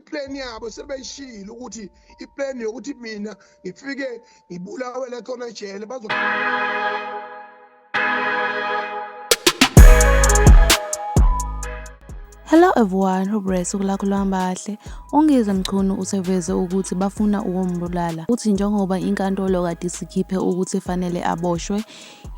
iplan yabo sebeyishilo ukuthi iplan yokuthi mina ngifike ngibulawe la khona ejele bazo Hello everyone, hope usuku lakho luhamba kahle. UNgizwe Mchunu useveze ukuthi bafuna ukumbulala. Uthi njengoba inkantolo kade isikhiphe ukuthi efanele aboshwe,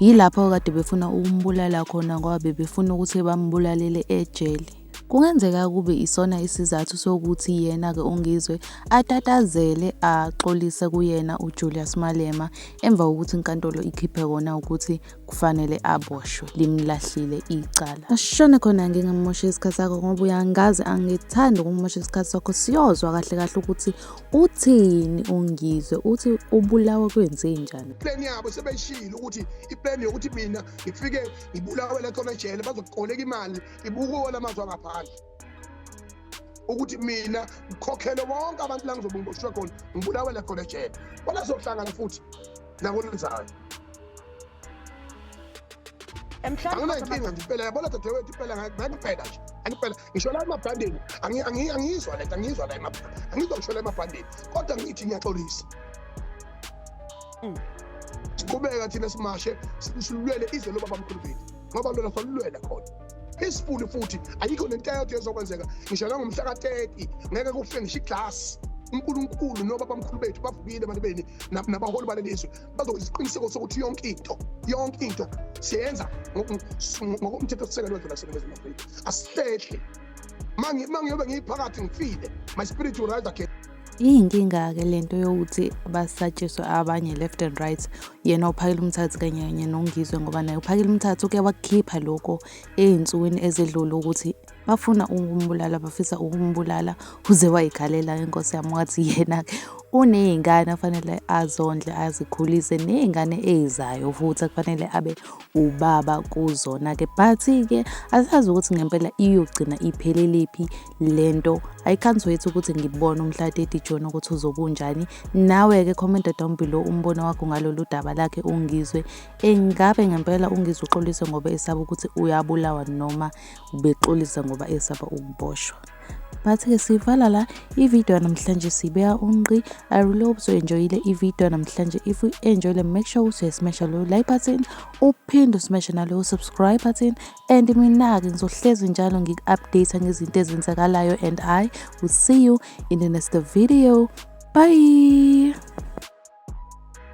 yilapho kade befuna ukumbulala khona ngoba bebefuna ukuthi bambulalele ejele. Kungenzeka kube isona isizathu sokuthi yena-ke uNgizwe atatazele axolise kuyena uJulius Malema emva kokuthi inkantolo ikhiphe kona ukuthi kufanele aboshwe limlahlile icala. Ashone khona ngingamosha isikhathi sakho ngoba uyangazi angithandi ukumosha isikhathi sakho siyozwa kahle kahle ukuthi uthini uNgizwe uthi ubulawa kwenzenjani. Plan yabo sebeshilo ukuthi iplan yokuthi mina ngifike ngibulawe la khona ejele bazokuqoleka imali ibuka wona amazwi angaphandle ukuthi mina ngikhokhele bonke abantu la ngizobe ngiboshwe khona ngibulawele khona ejele bona zohlangana futhi nakulenzayo anginayinkinga nje impela yabona dadewethu impela ngangipela nje angipela ngisho la emabhandeni angiyizwa le nto angiyizwa la angizwa ngisho la emabhandeni kodwa ngithi ngiyaxolisa mm. siqhubeka thina simashe silulwele ize lobaba mkhulu bethu ngabalwela salulwela khona peacefully futhi ayikho nento eyodwa ezokwenzeka ngisho nangomhla ka-30 ngeke kufe ngisho iglasi unkulunkulu noba bamkhulu bethu bavukile abantu beni nabaholi baleli izwe bazokuyisiqiniseko sokuthi yonke into yonke into siyenza ngokomthethosisekelo wedlula sele bezima afrika asihlehle ma ngiyobe ngiyiphakathi ngifile my spirit will rise again iyinkinga-ke lento yokuthi basatshiswe abanye left and right yena uphakela umthathu kanye kanye nongizwe ngoba naye uphakela umthathu uke wakukhipha lokho ey'nsukwini ezedlule ukuthi bafuna ukumbulala bafisa ukumbulala uze wayikhalela inkosi yami wathi yena-ke uney'ngane afanele azondle azikhulise ney'ngane ey'zayo futhi akufanele abe ubaba kuzona-ke but-ke asazi ukuthi ngempela iyogcina ipheleliphi le nto i can't wait ukuthi ngibone umhlateti jona ukuthi uzobunjani nawe-ke commenta down below umbono wakho ngalolu daba lakhe ungizwe engabe ngempela ungizwe uxolise ngoba esaba ukuthi uyabulawa noma ubexolise ngoba esaba ukuboshwa but-ke sivala la ividiyo yanamhlanje sibeka unqi i really hope uzoenjoyile ividiyo yanamhlanje if u-enjoyile make sure ukuthi uyasmasha loyo like button uphinde usmashe naloyo subscribe button and mina-ke ngizohlezi njalo ngiku-update ngezinto ezenzakalayo and i will see you in the next video bye